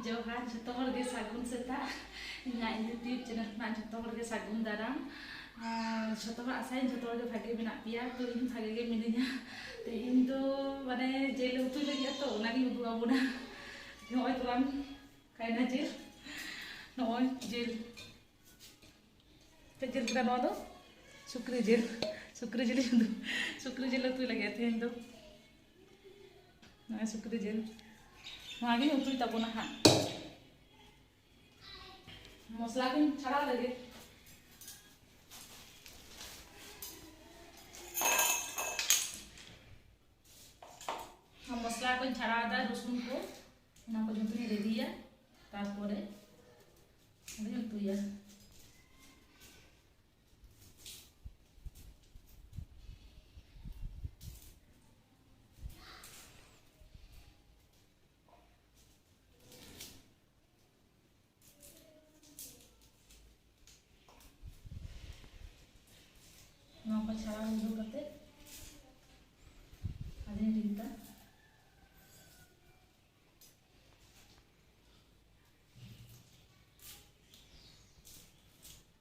ᱡᱚᱦᱟᱨ ᱡᱚᱛᱚ ᱦᱚᱲ ᱜᱮ ᱥᱟᱹᱜᱩᱱ ᱥᱮᱛᱟᱜ ᱤᱧᱟᱹᱜ ᱤᱭᱩᱴᱤᱭᱩᱵᱽ ᱪᱮᱱᱮᱞ ᱠᱷᱚᱱᱟᱜ ᱡᱚᱛᱚ ᱦᱚᱲ ᱜᱮ ᱥᱟᱹᱜᱩᱱ ᱫᱟᱨᱟᱢ ᱡᱚᱛᱚ ᱦᱚᱲ ᱟᱥᱟᱭᱟᱹᱧ ᱡᱚᱛᱚ ᱦᱚᱲ ᱜᱮ ᱵᱷᱟᱜᱮ ᱢᱮᱱᱟᱜ ᱯᱮᱭᱟ ᱛᱚ ᱤᱧ ᱵᱷᱟᱜᱮ ᱜᱮ ᱢᱤᱱᱟᱹᱧᱟ ᱛᱮᱦᱮᱧ ᱫᱚ ᱢᱟᱱᱮ ᱡᱤᱞ ᱩᱛᱩ ᱞᱟᱹᱜᱤᱫ ᱛᱚ ᱚᱱᱟᱜᱤᱧ ᱩᱫᱩᱜ ᱟᱵᱚᱱᱟ ᱱᱚᱜᱼᱚᱭ ᱛᱟᱞᱟᱝ ᱠᱟᱭᱱᱟ ᱡᱤᱞ ᱱᱚᱜᱼᱚᱭ ᱡᱤᱞ ᱪᱮᱫ ᱡᱤᱞ ᱠᱟᱱᱟ ᱱᱚᱣᱟ ᱫᱚ ᱥᱩᱠᱨᱤ ᱡᱤᱞ ᱥᱩᱠᱨᱤ ᱡᱤᱞ ᱥᱩᱠᱨᱤ ᱡᱤᱞ ᱩᱛᱩᱭ ᱞᱟᱹᱜᱤᱫ ᱛᱮᱦᱮᱧ ᱫᱚ ᱱᱚᱜᱼᱚᱭ ᱥᱩᱠᱨᱤ ᱡᱤᱞ ᱱᱚᱣᱟᱜᱤᱧ ᱩᱛᱩᱭ ᱛᱟᱵᱚᱱᱟ ᱦᱟᱸᱜ ᱢᱚᱥᱞᱟ ᱠᱚᱧ ᱪᱷᱟᱲᱟᱣ ᱞᱟᱹᱜᱤᱫ ᱢᱚᱥᱞᱟ ᱠᱚᱧ ᱪᱷᱟᱲᱟᱣᱫᱟ ᱨᱚᱥᱩᱱ ᱠᱚ ᱚᱱᱟ ᱠᱚ ᱡᱚᱛᱚᱧ ᱨᱮᱰᱤᱭᱟ ᱛᱟᱨᱯᱚᱨᱮ ᱟᱫᱚᱧ ᱩᱛᱩᱭᱟ ᱪᱷᱟᱲᱟᱣ ᱜᱩᱰᱩ ᱠᱟᱛᱮ ᱟᱫᱚᱧ ᱨᱤᱫᱟ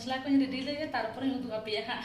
ᱢᱚᱥᱞᱟ ᱠᱚᱧ ᱨᱮᱰᱤ ᱞᱮᱜᱮ ᱛᱟᱨᱯᱚᱨᱮᱧ ᱩᱫᱩᱜ ᱟᱯᱮᱭᱟ ᱦᱟᱸᱜ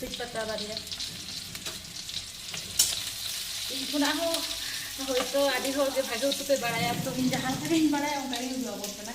ᱛᱮᱡᱽ ᱯᱟᱛᱟ ᱵᱟᱨᱭᱟ ᱤᱧ ᱠᱷᱚᱱᱟᱜ ᱦᱚᱸ ᱦᱳᱭᱛᱳ ᱟᱹᱰᱤ ᱦᱚᱲ ᱜᱮ ᱵᱷᱟᱜᱮ ᱩᱛᱩ ᱯᱮ ᱵᱟᱲᱟᱭᱟ ᱛᱚ ᱤᱧ ᱡᱟᱦᱟᱸ ᱞᱮᱠᱟᱧ ᱵᱟᱲᱟᱭᱟ ᱚᱱᱠᱟ ᱜᱮ ᱩᱫᱩᱜ ᱟᱵᱚᱱ ᱠᱟᱱᱟ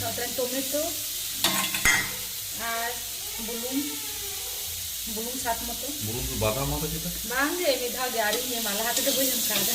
ᱱᱚᱛᱮ ᱴᱚᱢᱮᱴᱳ ᱟᱨ ᱵᱩᱞᱩᱝ ᱵᱩᱞᱩᱝ ᱥᱟᱛ ᱢᱚᱛᱚ ᱵᱩᱞᱩᱝ ᱫᱚ ᱵᱟᱫᱟᱢ ᱢᱟᱫᱟ ᱪᱮᱫᱟ ᱵᱟᱝ ᱜᱮ ᱢᱤᱫ ᱫᱷᱟᱣ ᱜᱮ ᱟᱹᱣᱨᱤᱧ ᱮᱢᱟ ᱞᱟᱦᱟ ᱛᱮᱫᱚ ᱵᱟᱹᱧ ᱮᱢ ᱠᱟᱣᱫᱟ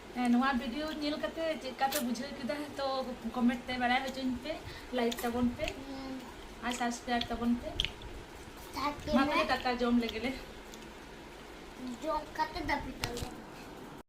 ᱱᱚᱣᱟ ᱵᱷᱤᱰᱤᱭᱳ ᱧᱮᱞ ᱠᱟᱛᱮ ᱪᱮᱫ ᱞᱮᱠᱟ ᱯᱮ ᱵᱩᱡᱷᱟᱹᱣ ᱠᱮᱫᱟ ᱛᱚ ᱠᱚᱢᱮᱱᱴ ᱛᱮ ᱵᱟᱲᱟᱭ ᱦᱚᱪᱚᱧ ᱯᱮ ᱞᱟᱭᱤᱠ ᱛᱟᱵᱚᱱ ᱯᱮ ᱟᱨ ᱥᱟᱵᱥᱠᱨᱟᱭᱤᱵ ᱛᱟᱵᱚᱱ ᱯᱮ ᱢᱟ ᱛᱟᱦᱚᱞᱮ ᱫᱟᱠᱟ ᱡᱚᱢ ᱞᱮᱜᱮ ᱞᱮ ᱡᱚᱢ ᱠᱟᱛᱮ ᱫᱟᱹᱯᱤᱫ ᱟᱞᱮ